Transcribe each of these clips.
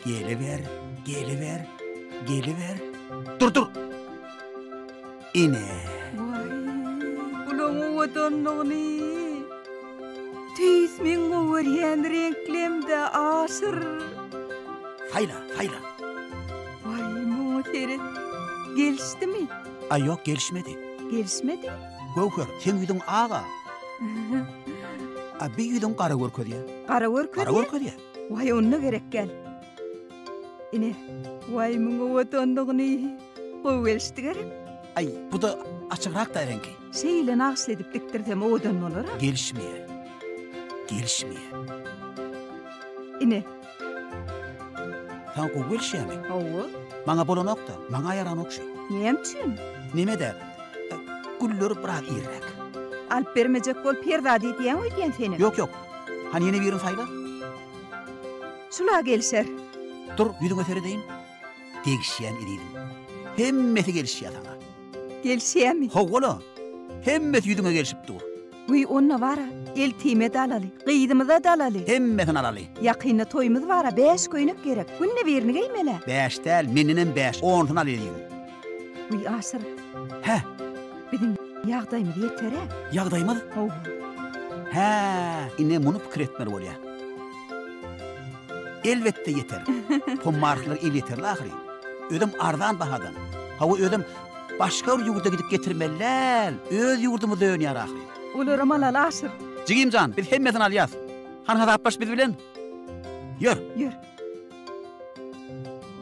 Geliber, geliber, geliber. Dur, dur. Ine. Waý. Ulan owadanlygyny. Tüýs meň gowerýän reňklemde aşyr. Saýla, saýla. Waý, muňa seret. Gelişdimi? A ýok, gelişmedi. Gelişmedi? Göwher, seň ýüzüň aga. A bi ýüzüň gara görkezýär. Gara görkezýär? Gara görkezýär. Waý, onda gerek gel. Ine, waý, muňa owadanlygyny. Gowy gelişdi gerek. Aý, bu-da açygrakda reňki. Şeýle nagyşly edip dikdirsem owadan bolar-a. Gelişmeýär. Gelişmeýär. Ine. Saňa gowy gelişýärmi? Hawa. Maňa bolanok-da, maňa ýaranok şu. Näme üçin? Neme-de, gülleri biraz irräk. Alyp bermejek bol, perzat edýäň öýdýän seni. Ýok, ýok. Hany ýene birini saýla. Şul-a gelişer. Dur, ýüzüňe seredeýin. Degişýän ezizim. Hemmesi gelişýä saňa. Gelişýämi? Hawa-la. Hemmesi ýüzüňe gelşip dur. Wiý, onda bar-a, eltime-de alaly, gyzymyza-da alaly. Hemmesini alaly. Ýakynda toýumyz bar-a, bäş köýnek gerek. Günde birini geýmel-ä. Bäş däl, mendenem bäş, onusyn al ezizim. Wiý, Aşyr. Hä? Biziň ýagdaýymyz ýeter-ä. Ýagdaýymyz? Hawa. Hä, ine muny pikir etmeli bolýar. Elbetde ýeter. Pommarklar elýeterli ahyry. Özem arzan bahadan. Hawa, özem başga bir ýurda gidip getirmeli däl, öz ýurdumyzda önýär ahyry. Olaram alaly, Aşyr. Jigim jan, biz hemmesini alýas. Han hasaplaş biz bilen. Ýör. Ýör.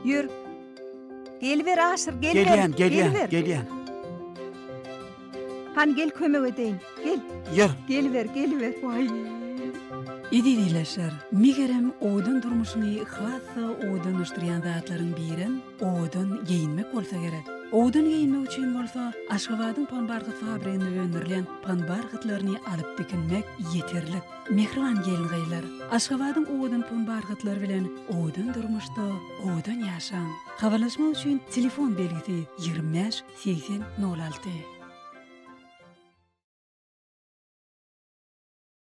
Ýör. Geliber Aşyr, geliber. Gelýän, gelýän, geliber. gelýän. Han gel kömek edeýin. Gel. Ýör. Geliber, geliber. Waý. Izidileşer. Megerem, owadan durmuşyňy has-da owadanlaşdyrýan zatlaryň birem owadan geýinmek bolsa gerek. Owadan geýinmek üçin bolsa Aşgabadyň panbarhyt fabriginde öndürilen panbarhytlaryny alyp dikinmek ýeterlik. Mähriban gelin-gyzlar, Aşgabadyň owadan panbarhytlary bilen owadan durmuşda Owadan ýaşaň! Habarlaşmak üçin telefon belgisi ýigrimi bäş, segsen, nol alty.